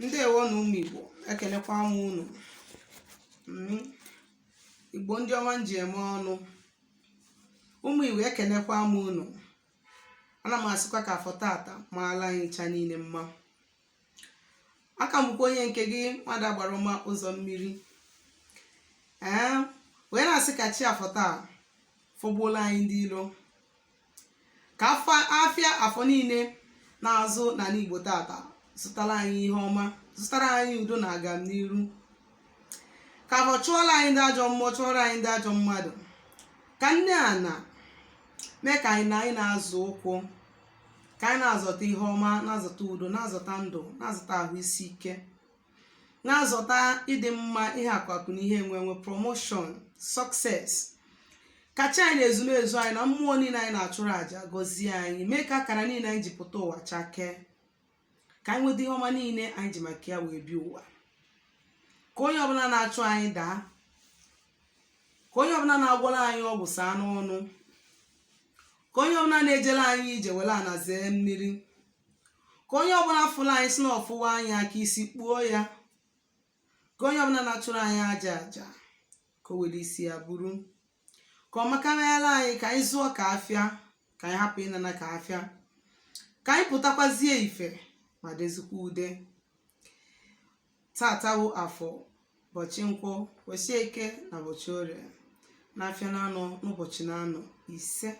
ndewo nụ ụmụ igbo ekenekwa m unu mm. igbo ndị ọma m ji eme ọnụ ụmụ igbo ekenekwa m unu ana m asịkwa ka afọ tata maala anyị ncha niile mma aka m bụkwa onye nke gị nwada agbara ụma ụzọ mmiri ee wee na-asị ka chi afọ taa fọgbuola anyị ndị ilo ka afịa afọ niile na-azụ n'anị igbo tata zụtara anyị ihe ọma zụtara anyị udo na agamniru ka afọ chụọla anyị ndị ajọ mmụọ chụọla anyị ndị ajọ mmadụ ka nne ana mee ka anyị na-azọ ụkwụ ka anyị na-azọta ihe ọma na-azọta udo na-azọta ndụ na-azọta ahụ isi ike na-azọta ịdị mma ihe akụ akụ na ihe enwe enwe promotion success ka chi anyị na ezumezu anyị na mmụọ niile anyị na-achụrụ àjà gọzie anyị mee ka akara niile anyị ji pụta ụwa chakee ka anyị nweta ihe ọma niile anyị ji maka ya wee bịa ụwa ka onye ọbụla na-achụ anyị daa ka onye ọbụla na-agwọla anyị ọgwụ saa n'ọnụ ka onye ọbụla na-ejela anyị ije were ana zee mmiri ka onye ọbụla fụrụ anyị sị na ọ fụhọ anyị ka isi kpuo ya ka onye ọbụla na-achụrụ anyị ajọ aja ka o were isi ya buru ka ọ makarịala anyị ka anyị zuo ka afịa ka anyị hapụ ịnana ka afịa ka anyị pụtakwazie ife ma dezikwa ude tata wụ afọ ụbọchị nkwọ ụbọchị eke na ụbọchị orie n'afịa naanọ n'ụbọchị naanọ isee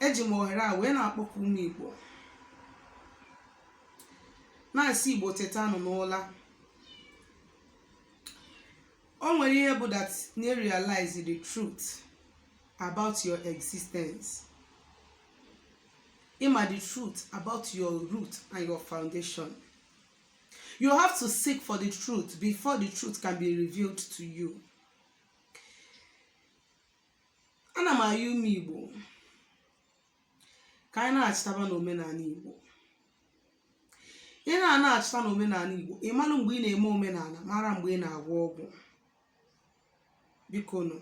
eji m ohere a wee na-akpọku ụmụ igbo na-asị igbo tetanụ n'ụla o nwere ihe bụ that na ị realize the truth about your existence ịma the truth about your root and your foundation you have to seek for the truth before the truth can be revealed to you ana m ayọ ụmụ igbo ka anyị naachitaba n'omenala igbo ị na-anaachita n'omenala igbo ị mara mgbe ị na-eme omenala mara mgbe ị na-agwọ ọgwụ bikonụ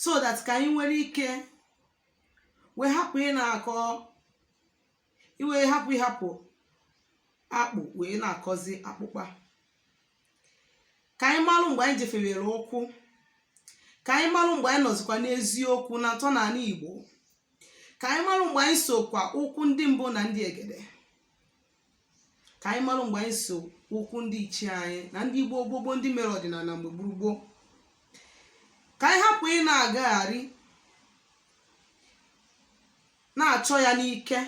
so that ka anyị nwere ike wee hapụ ịna-akọ i wee hapụ ịhapụ akpụ wee na-akọzi akpụkpa ka anyị malụ mgbe anyị jefiewere ụkwụ ka anyị malụ mgbe anyị nọzikwa n'eziokwu na ntọnanị Igbo ka anyị malụ mgbe anyị sokwa ụkwụ ndị mbụ na ndị egede ka anyị malụ mgbe anyị so ụkwụ ndị ichie anyị na ndị igbo gboo gboo ndị mere ọdịnala mgbe gboo gboo ka anyị hapụ ị na-agagharị na-achọ ya n'ike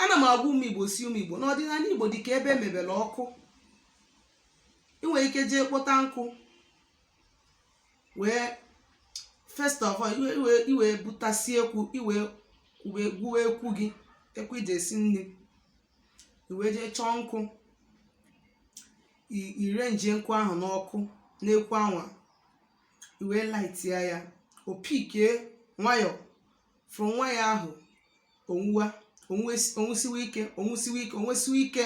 ana m agwa ụmụ igbo sị ụmụ igbo na ọdịnala igbo dị ka ebe emebere ọkụ ị nwere ike jee kpọta nkụ wee first of all i wee butasi ekwu i wee gwuwe ekwu gị ekwu i ji esi nni i wee jee chọọ nkụ ị rụnye nkụ ahụ n'ọkụ n'ekwu anwa i wee lightia ya o pickie nwayọọ from nwayọọ ahụ o nwuwa o nwes- o nwusiwe ike o nwusiwe ike o nwusiwe ike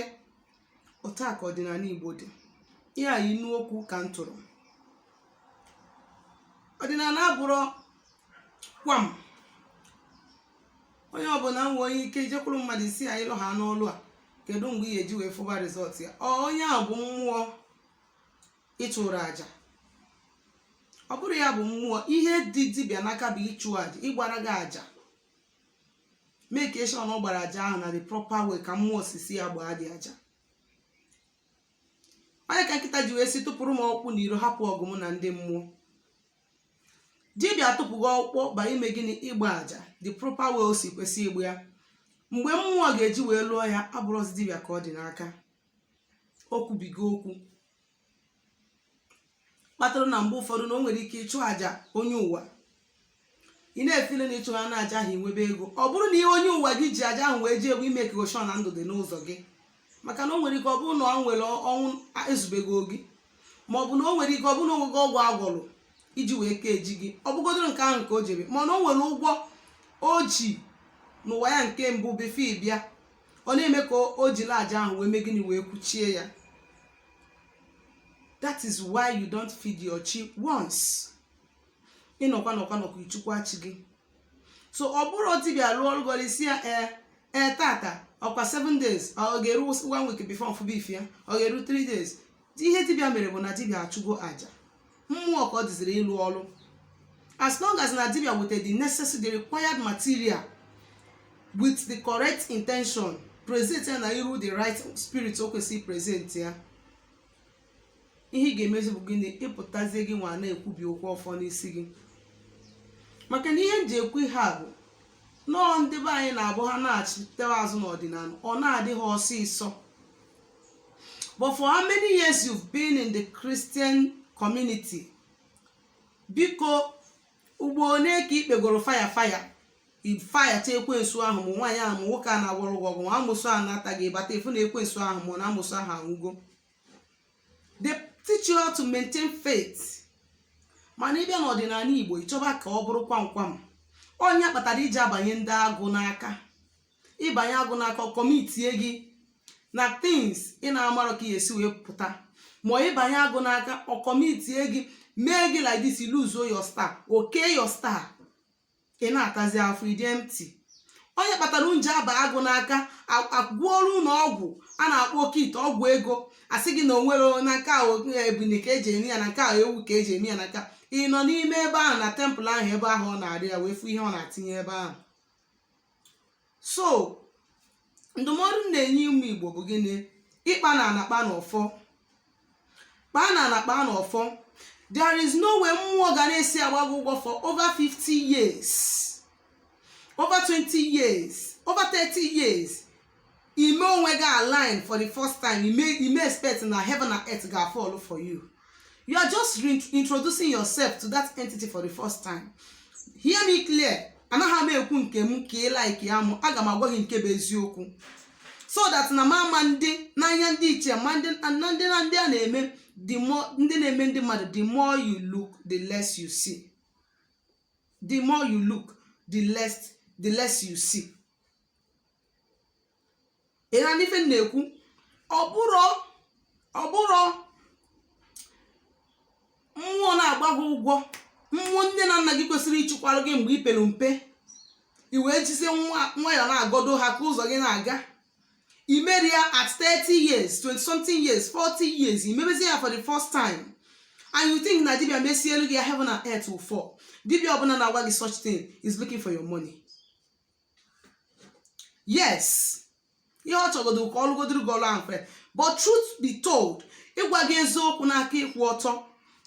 otu a ka ọdịnala igbo dị ihe a inu okwu ka m tụrụ ọdịnala abụrọkwa onye ọbụla nwee ike ijekwuru mmadụ sị ya ịlụ ha n'ọlụ a kedu mgbe ị ga-eji wee fụba result ya ọ onye ahụ bụ mmụọ ịchụrụ aja ọ bụrọ ya bụ mmụọ ihe dị dibịa n'aka bụ ịchụ aja ịgbara gị aja make sure na ọ gbara aja ahụ na the proper way ka mmụọ si sị ya gbaa dị aja ọ ya ka nkịta ji wee sị tụpụrụ m ọkpụkpụ n'iro hapụ ọgụ m na ndị mmụọ dibịa tụpụ gị ọkpụkpụ bụ ime gịnị ịgba aja the proper way o si kwesị ịgba ya mgbe mmụọ ga-eji wee lụọ ya abụrọzi dibịa ka ọ dị n'aka o kwubigo okwu kpatara na mgbe ụfọdụ na o nwere ike ịchụ aja onye ụwa ị na-efeel na ịchụ ha na aja ahụ i nwebe ego ọ bụrụ na ihe onye ụwa gị ji aja ahụ wee jee bụ i make sure na ndụ dị n'ụzọ gị maka na o nwere ike ọ bụrụ na o nwere ọnwụ e zubego gị ma ọ bụ na o nwere ike ọ bụrụ na o nwego ọgwụ agwọrụ iji wee kechie gị ọ bụgodoro nke ahụ ka o ji mee mana o nwere ụgwọ o ji n'ụwa ya nke mbụ before ị bịa ọ na-eme ka o jiri aja ahụ wee mee gịnị wee kwụchie ya that is why you don't feed your chi once ị nọkwa nọkwa nọkwa ị chụkwaa chi gị so ọ bụrụ dibịa lụọ ọrụ gị ị sị ya ee ee tata ọkwa 7 days ọ ga-eru one week before m fụba ife ya ọ ga-eru 3 days ihe dibịa mere bụ na dibịa achụgo aja mmụọ ka ọ dịziri ịlụ ọrụ as long as na dibia with the necessary the required material with the correct intention present ya na iru the right spirit o kwesịrị present ya ihe ị ga-emezi bụ gịnị ịpụtazie gị nwa na-ekwubi okwu ọfọ n'isi gị maka na ihe m ji ekwu ihe a bụ nọọ ndị be anyị na-abụ ha na-achịtewa azụ n'ọdịnala ọ na-adị ha ọsịsọ but for how many years you've been in the Christian community biko ugbo one ka ikpegoro fire fire ifayacha ekwensu ahụ ma nwaanyị ahụ ma nwoke a na-agwọrọ gị ọgwụ ma amụsụ a na-ata gị bata efu na ekwensu ahụ ma amụsụ ahụ anwụgo they teach you how to maintain faith mana ịbịa n'ọdịnala igbo ịchọba ka ọ bụrụ kwamkwam ọ ya kpatara iji abanye ndị agụ n'aka ịbanye agụ n'aka ọ commitie gị na things ị na-amarọ ka ị ya-esi wee pụta ma ịbanye agụ n'aka ọ commitie gị mee gị like this lose your star okay your star ị na-atazi afụfụ ị dị empty ọ ya kpatara unu ji aba agụ n'aka a- agwọọrọ unu ọgwụ a na-akpọ oke ite ọgwụ ego asị gị na onwere na nke a ebunu ka eji eme ya na nke a ewu ka eji eme ya na nke a ị nọ n'ime ebe ahụ na tempụl ahụ ebe ahụ ọ na-arụ ya wee fụ ihe ọ na-atinye ebe ahụ so ndụmọdụ m na-enye ụmụ igbo bụ gịnị ịkpa na anakpa na ọfọ kpaa na anakpa na ọfọ there is no way mmụọ ga na-esi agba gị ụgwọ for over 50 years over 20 years over 30 years ime onwe gị align for the first time ime ime expect na heaven and earth ga-afọlụ for you you are just introducing yourself to that entity for the first time hear me clear anaghị m ekwu nke m ka ị like ya mụ aga m agwa gị nke bụ eziokwu so that na mama ndị n'anya ndị iche ma ndị na ndị na ndị a na-eme the more ndị na-eme ndị mmadụ the more you look the less you see the more you look the less the less you see ị na-anụ ife m na-ekwu ọ bụrụ ọ bụrụ mmụọ na-agba gị ụgwọ mmụọ nne na nna gị kwesịrị ịchịkwara gị mgbe i pere mpe i wee jizie nwa nwayọ na-agọdo ha ka ụzọ gị na-aga imerọ ya at 30 years 20 something years 40 years imebezi ya for the first time and you think na dibia mesielu gị ya heaven and earth will fall dibia ọbụla na-agwa gị such thing is looking for your money yes ihe ọ chọgodo ka ọ lụgodoro gị ọlụ ahụ mfe but truth be told ịgwa gị eziokwu n'aka ịkwụ ọtọ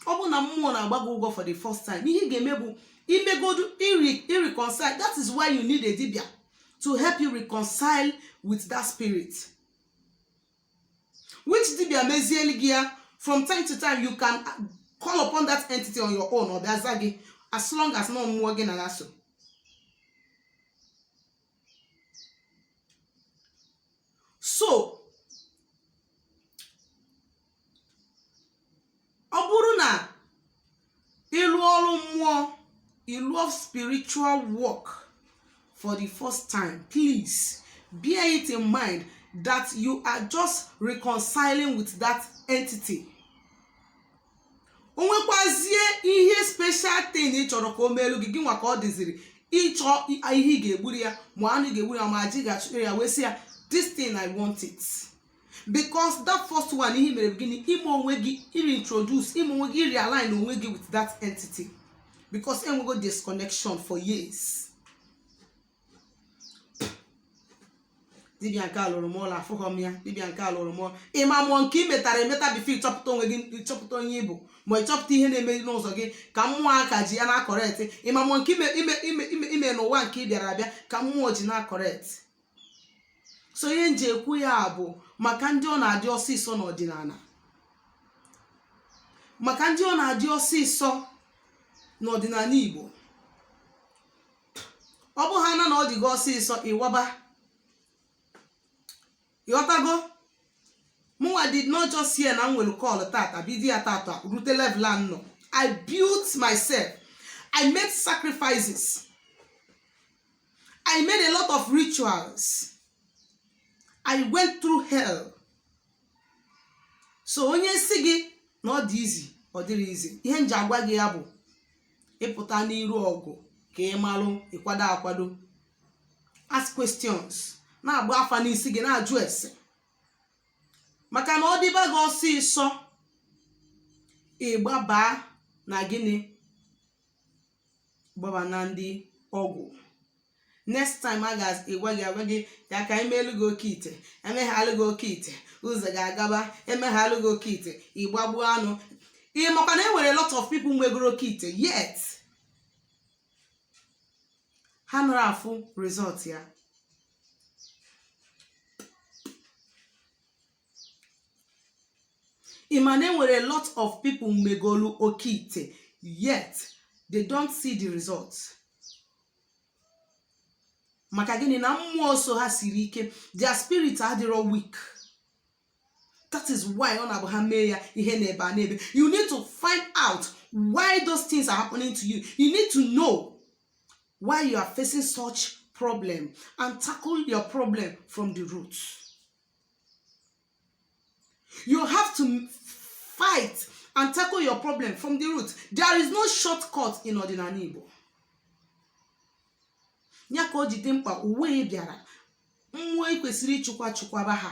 ọ bụ na mmụọ na-agba gị ụgwọ for the first time ihe ị ga-eme bụ imegodu ị reconcile that is why you need a dibia to help you reconcile with that spirit which dibia mezieli gị ya from time to time you can call upon that entity on your own ọ bịa za gị as long as na ọ mmụọ gị na ya so so ọ bụrụ na ị lụọ ọrụ mmụọ ị lụọ spiritual work for the first time please bear it in mind that you are just reconciling with that entity o nwekwazie ihe special thing ị chọrọ ka o meelu gị gị nwa ka ọ dịziri ịchọ ihe ị ga-egburu ya ma anụ ị ga-egburu ya ma aja ị ga-achụrụ ya wee sị ya this thing i want it. because that first one ihe i mere bụ gịnị ime onwe gị reintroduce ime onwe gị realign onwe gị with that entity because enwego disconnection for years dibia nke a lụrụ m ọlụ afụghọ m ya dibia nke a lụrụ m ịma mmụọ nke ị metara emeta before ịchọpụta onwe gị ịchọpụta onye ị bụ ma ịchọpụta ihe na-eme n'ụzọ gị ka mmụọ aka ji ya na-acorrect ịma mmụọ nke ime n'ụwa nke ị bịara abịa ka mmụọ ji na-acorrect so ihe m ji ekwu ya bụ maka ndị ọ na-adị ọsịsọ n'ọdịnala maka ndị ọ na-adị ọsịsọ n'ọdịnala Igbo ọ bụ ha na na ọ dị gị ọsịsọ ị waba ị ghọtago mụnwa did not just hear na m nwere call tata bido ya tata rute level a m nọ I built myself I made sacrifices I made a lot of rituals. I went through hell. So onye si gị na ọ dị easy ọ dịrọ easy ihe m ji agwa gị ya bụ ị pụta n'iru ọgụ ka ị malụ ịkwado akwado ask questions na-agba afa n'isi gị na-ajụ ese maka na ọ dịba gị ọsịsọ ị gbabaa na gịnị gbaba na ndị ọgwụ next time a gwa gị ya ka e meelu gị oke ite emeghalụ gị oke ite ụzọ gị agaba emeghalụ gị oke ite ị gbagbuo anụ ị makwa na e nwere a lot of people nwegoro oke ite yet ha anarọ afụ result ya ị ma na e nwere a lot of people megolu oke ite yet they don't see the results maka gịnị na mmụọ so ha siri ike their spirit adịrọ weak that is why ọ na-abụ ha mee ya ihe n'ebe a n'ebe you need to find out why those things are happening to you you need to know why you are facing such problem and tackle your problem from the root you have to fight and tackle your problem from the root there is no shortcut in ọdịnala igbo ya ka o ji dị mkpa ụwa ị bịara mmụọ ị kwesịrị ịchụkwa chụkwaba ha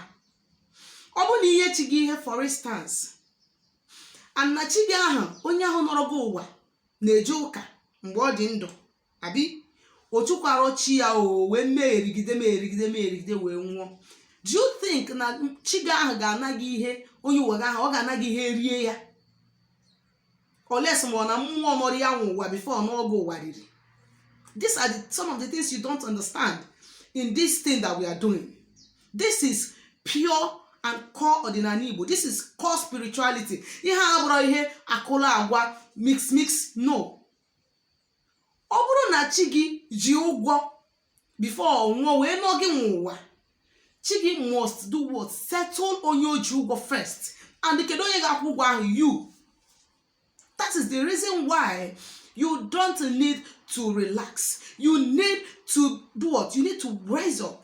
ọ bụrụ na i nye chi gị ihe for instance and na chi gị ahụ onye ahụ nọrọ gị ụwa na-eje ụka mgbe ọ dị ndụ abi o chụkwara chi ya o wee merigide merigide merigide wee nwụọ do you think na chi gị ahụ ga-ana gị ihe onye ụwa gị ahụ ọ ga-ana gị ihe rie ya unless ma ọ na mmụọ nọrọ ya nwe ụwa before n'oge ụwa riri these are the, some of the things you don't understand in this thing that we are doing this is pure and core ọdịnala igbo this is core spirituality ihe a abụrọ ihe akụla agwa mix mix no ọ bụrụ na chi gị ji ụgwọ before ọ nwụọ wee nọ gị nwe ụwa chi gị must do what settle onye o ji ụgwọ first and kedu onye ga-akwụ ụgwọ ahụ you that is the reason why you don't need to relax you need to do what you need to rise up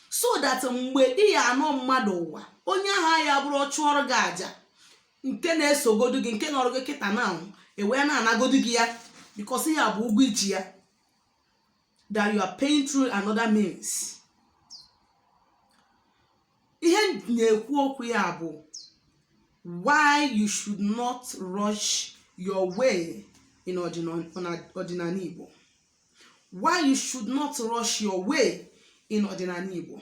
so that mgbe ị ya-anọ mmadụ ụwa onye ahụ ya bụrụ ọ chụọrọ gị aja nke na-esogodu gị nke nọrọ gị kịta na ewee na-anagodu gị ya because ya bụ ụgwọ i ji ya that you are paying through another means ihe na-ekwu okwu ya bụ why you should not rush your way in ọdịnala Igbo why you should not rush your way in ọdịnala Igbo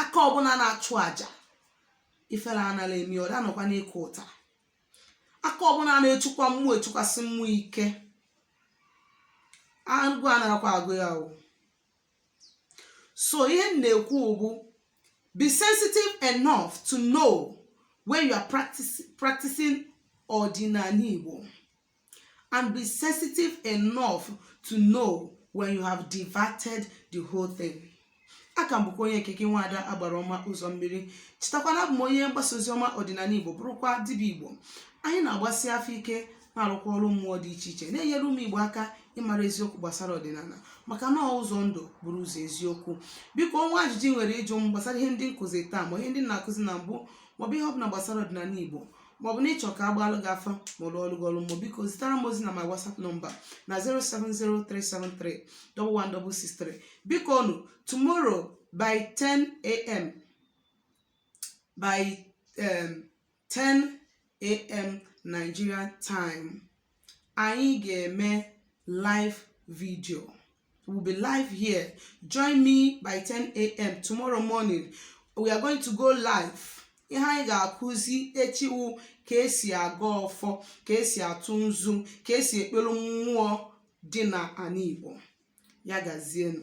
aka ọbụla na-achụ aja ifere anara eme ya ọ da anọkwa n'ịkụ ụta aka ọbụla na-echukwa mmụọ echukwasị mmụọ ike agwụ anarakwa agwụ ya o so ihe m na-ekwu bụ be sensitive enough to know when you are practice, practicing ọdịnala igbo and be sensitive enough to know when you have diverted the whole thing aka m bụkwa onye nke gị nwaada agbara ọma ụzọ mmiri chetakwana abụ m onye mgbasa ozi ọma ọdịnala igbo bụrụkwa dibịa igbo anyị na-agbasi afa ike na-arụkwa ọrụ mmụọ dị iche iche na-enyere ụmụ igbo aka ịmara eziokwu gbasara ọdịnala maka na ọ ụzọ ndụ bụrụ ụzọ eziokwu biko nwee ajụjụ ị nwere ịjụ m gbasara ihe ndị m kụzi taa ma ihe ndị na-akụzi na mbụ maọbụ ihe ọbụla gbasara ọdịnala igbo maọbụ na ị chọ ka a gbaalụ gị afa ma ọ lụọlụ gị ọlụ mmụọ biko zitara m ozi na my whatsapp number na 07037311663 bikonu tomorrow by 10 a.m. by um, 10 a.m. Nigeria time anyị ga-eme live video we'll be live here join me by 10 a.m. tomorrow morning we are going to go live ihe anyị ga-akụzi echi wụ ka esi agọ ọfọ ka esi atụ nzu ka esi ekpere mmụọ dị na ana Igbo ya gazienụ